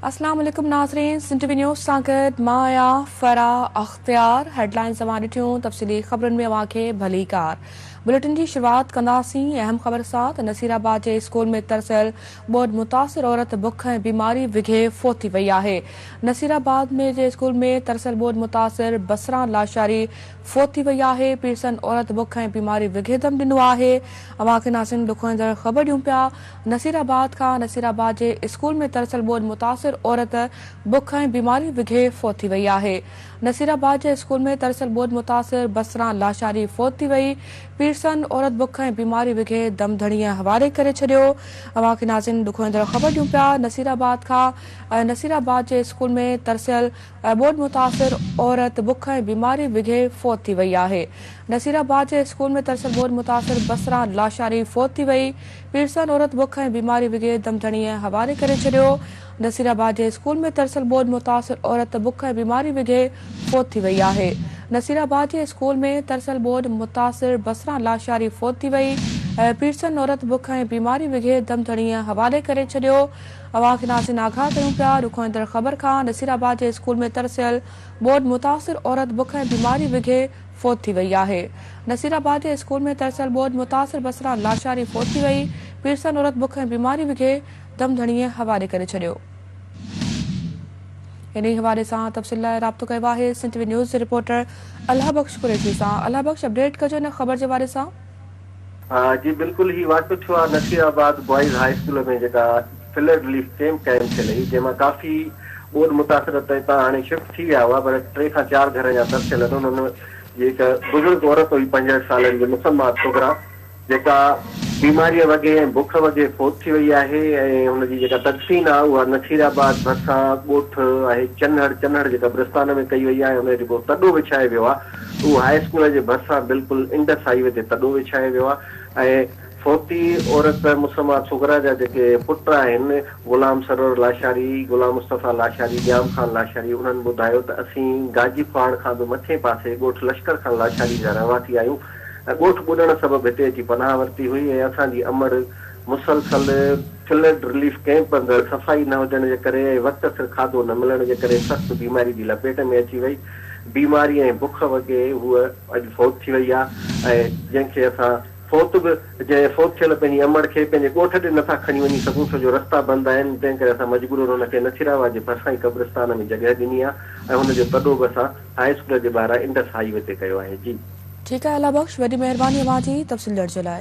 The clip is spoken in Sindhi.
اسلام عليڪم ناظرين سنڌ نيوز سان گڏ مان آهيان فرا اختيار هيڊلائنز اوهان ڏٺيون تفصيلي خبرن ۾ اوهان کي ڀلي ڪار بليٽن جي شروعات ڪنداسين اهم خبر سان ته نصير آباد جي اسڪول ۾ ترسيل ٻوڏ متاثر عورت بک ۽ بيماري وگهي فوت ٿي وئي آهي نصير آباد ۾ جي اسڪول ۾ ترسيل ٻوڏ متاثر بسران لاشاري فوت ٿي وئي آهي. پيرسن عورت بک ۽ بيماري وگهي دم ڏنو آهي. اوهان کي ناسين ڏکوئيندڙ خبر ڏيون پيا. نصير آباد کان نصير آباد جي اسڪول ۾ ترسيل ٻوڏ متاثر عورت بک ۽ بيماري وگهي فوت ٿي وئي آهي. نصير آباد جي اسڪول ۾ ترسيل ٻوڏ متاثر بصران لاشاري فوت ٿي وئي. پيرسن عورت بک ۽ بيماري وگهي دم ڌڻيء حوالي ڪري ڇڏيو. اوهان کي ناسين ڏکوئيندڙ خبر ڏيون پيا. نصير آباد کان نصير آباد جي اسڪول ۾ ترسيل ٻوڏ متاثر عورت بک ۽ بيماري بگهي فوت ٿي وئي آهي، نصير آباد جي اسڪول ۾ ترسيل ٻوڏ متاثر بصران لاشاري فوت ٿي وئي، پيرسان عورت بک ۽ بيماري بگهي دم ڌڻيء حوالي ڪري ڇڏيو، نصير آباد جي اسڪول ۾ ترسيل ٻوڏ متاثر عورت بک ۽ بيماري بگهي فوت ٿي وئي آهي، نصير آباد جي اسڪول ۾ ترسيل ٻوڏ متاثر بصران لاشاري فوت ٿي وئي، پيرسان عورت بک ۽ بيماري بگهي دم ڌڻيء حوالي ڪري ڇڏيو، اوهان کي ناصين آگاهه ڪيون پيا. رخون ايندڙ خبر کان نصير آباد جي اسڪول ۾ ترسيل ٻوڏ متاثر عورت بک ۽ بيماري وگهي فوت ٿي وئي آهي. نصير آباد جي اسڪول ۾ ترسيل ٻوڏ متاثر بصرا لاشاري فوت ٿي وئي. پيرسن عورت بک ۽ بيماري وگهي دم ڌڻيء حوالي ڪري ڇڏيو. انهي حوالي سان تفصيل لاء رابطو ڪيو آهي سنڌ وي نيوز جي رپورٽر الهه بخش قريشي سان الهه بخش اپڊيٽ ڪجو ان خبر جي حوالي سان. جي بلڪل هي واقعو ٿيو آهي Nasirabad boys high school ۾ جيڪا فلڊ رليف ڪيمپ قائم ٿيل هئي جنهن مان ڪافي ٻوڏ متاثر اتان هاڻي شفٽ ٿي ويا هئا پر ٽي کان چار گهر اڃا ترسيل آهن انهن ۾ هڪ بزرگ عورت هئي پنجهٺ سالن جي مسمات صغرا جيڪا بيماري وگهي ۽ بک وگهي فوت ٿي وئي آهي ۽ هن جي جيڪا تدفين آهي اها نصير آباد ڀرسان ڳوٺ آهي چنهڙ چنهڙ جيڪا برستان ۾ ڪئي وئي آهي ۽ ان جو جيڪو تڏو وڇائي ويو آهي هو هاء اسڪول جي ڀرسان بلڪل انڊس هاء وي تي تڏو وڇائي ويو آهي ۽ فوتي عورت مسميٰ صغريٰ جا جيڪي پٽ آهن غلام سرور لاشاري، غلام مصطفيٰ لاشاري، ڄام خان لاشاري انهن ٻڌايو ته اسين گاجي کوهاڻ کان به مٿين پاسي ڳوٺ لشڪر خان لاشاري جا رهواسي آهيون ۽ ڳوٺ ٻڏڻ سبب هتي اچي پناهه ورتي هئي ۽ اسان جي امڙ مسلسل فلڊ رليف ڪئمپ اندر صفائي نه هجڻ جي ڪري ۽ وقت سر کاڌو نه ملڻ جي ڪري سخت بيماري جي لپيٽ ۾ اچي وئي. بيماري ۽ بک وڳي هوء اڄ فوت ٿي وئي آ ۽ جنهن کي اسان فوت به جنهن فوت ٿيل پنهنجي امڙ کي پنهنجي ڳوٺ ڏي نٿا کڻي وڃي سگهون ڇو جو رستا بند آهن تنهن ڪري اسان مجبورن هن کي نٿيراوا جي ڀرسان ئي قبرستان ۾ جڳهه ڏني آ ۽ هن جو تڏو به اسان هاء اسڪول جي ٻاهران انڊس هاء وي تي ڪيو آهي جي. ٺيڪ آهي الله بخش وڏي مهرباني اوهان جي تفصيل ڏيڻ جي لاء.